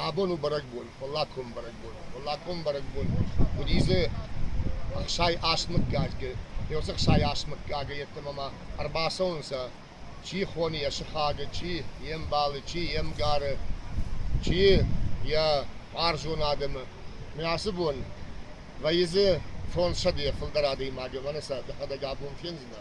Абону бӕрӕгбон, фаллагкон бӕрӕгбон, фаллагкон бӕрӕгбон уыди дзы ӕхсай ӕсмыггагӕй, еуцы ӕхсай ӕсмыггагӕй еттӕмӕ ма ӕрбацӕунцӕ, чи хони йӕ сыхагы, чи йе мбалы, чи йе мгары, чи йӕ хъарзон адӕмы. Мӕ ацы бон вӕййы дзы фондзсӕдейӕ фылдӕр адӕймаги, мӕнӕ сӕ дӕхӕдӕг абон фендзынӕ.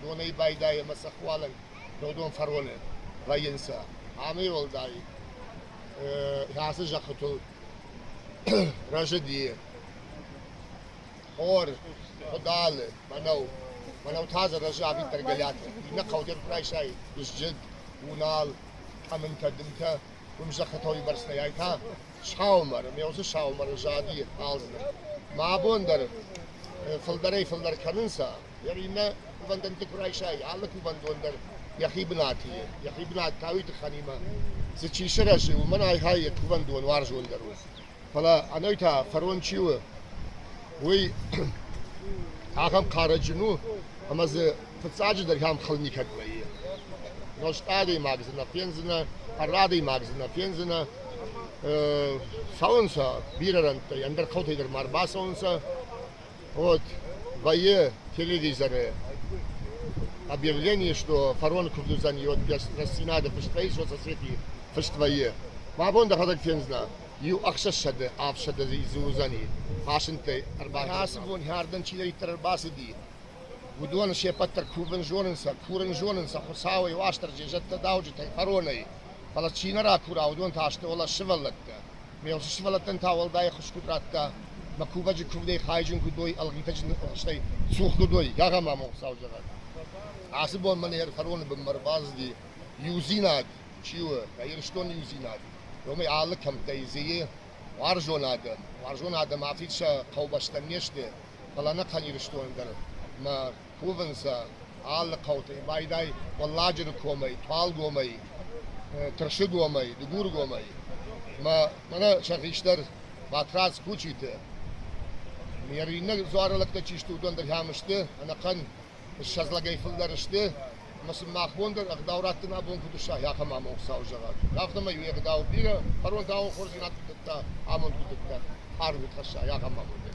донӕй байдайӕ ӕма сӕ хуалӕг додон фӕронӕ вӕййунцӕ. Ами уӕлдай ацы зӕххитыл рӕзыди хор, къудалы, мӕнӕу. Мӕнӕу та дзы рӕзы ӕвиддӕр гӕлӕтӕ. Иннӕ хъӕудӕр куы райсай дызджын, уынал, къӕмынтӕ, дымтӕ, уым зӕххытыл имӕрснӕйӕй та саумӕр, ме усы саумӕры зади хъалдздӕр. Мӕ абон дӕр фылдӕрӕй-фылдӕр кӕнынц Йӕ иннӕ кувӕндӕнты куы райсай, алы кувӕндон дӕр йӕхи бынаты и. Йӕхи бынат та уый тыххӕнимӕ, цы чи сырӕзы, уымӕн айхайы йӕ кувӕндон уарзондӕр у. Фӕлӕ ӕнӕй та фарон чи у, уый ахӕм хъарӕджын у, ӕмӕ дзы фыццаджыдӕр ахӕм хыл никӕд вӕййы. Нозт адӕймаг дзы нӕ фендзынӕ, ӕрра адӕймаг дзы нӕ фендзынӕ. Цӕуынцӕ бирӕ рӕнттӕй, ӕндӕр хъӕутӕй дӕр ма ӕрбацӕуынцӕ. Вот войе телевизоры объявление, что фарон Курдызӕн рӕстдзинады фыст вӕййы соцосети фыст вӕййы. Мӕ бон дӕхӕдӕг фендзынӕ, иу ӕхсӕзсӕды ӕфсӕды дзы уыдзӕни фасынтӕй ӕрбахӕрын. Ацы бон хӕрдӕн чидӕриддӕр ӕрбацыди, уыдон сеппӕт дӕр кувын зонын сӕ, курын зонын сӕ Хуыцауӕй, Уастырджи, зӕдтӕ, дауджытӕй, фаронӕй. Фӕлӕ чи нӕ ракура, уыдон та сты олӕс сывӕллӕттӕ. Ме лхы сывӕллӕттӕн та уӕлдай ӕххуысгуд радта, мӕ кувӕджы куывдӕй хайджын куыд уой ӕлгъитӕджын ӕхстӕй цух куыд уой, гагамамон саузӕгъӕг. Ацы бон мӕ нӕ хӕроны бынмӕ ӕрбацыди иудзинад, чи у, нӕ Ирыстон иудзинад, уымӕй алы кӕмттӕй зыйы уарзон адӕм. Уарзон адӕм афид сӕ хъӕубӕстӕн не сты, фӕлӕ ӕнӕхъӕн Ирыстон дӕр. Мӕ кувынц алы хъӕуты, байдай Уӕлладжыры комӕй, Туалгомӕй, Тырсыгомӕй, Дыгургомӕй ӕмӕ мӕнӕ сӕ хистӕр Батрадз Кучиты. Йӕ иунӕг дзуары лӕгтӕ чи сты, уыдон дӕр ӕм сты, ӕнӕхъӕн ссӕдз лӕгӕй фылдӕр сты, ӕмӕ сын мах бон дӕр ӕгъдау раттын абон куыд ысса, ахӕм амонд Хуыцауы зӕгъӕг. Афтӕмӕй уе гъдау бирӕ, кӕронтау хорздзинад куыд дӕтта, амонд куыд дӕтта, аргъ куыд хӕсса, ахӕм амондӕй.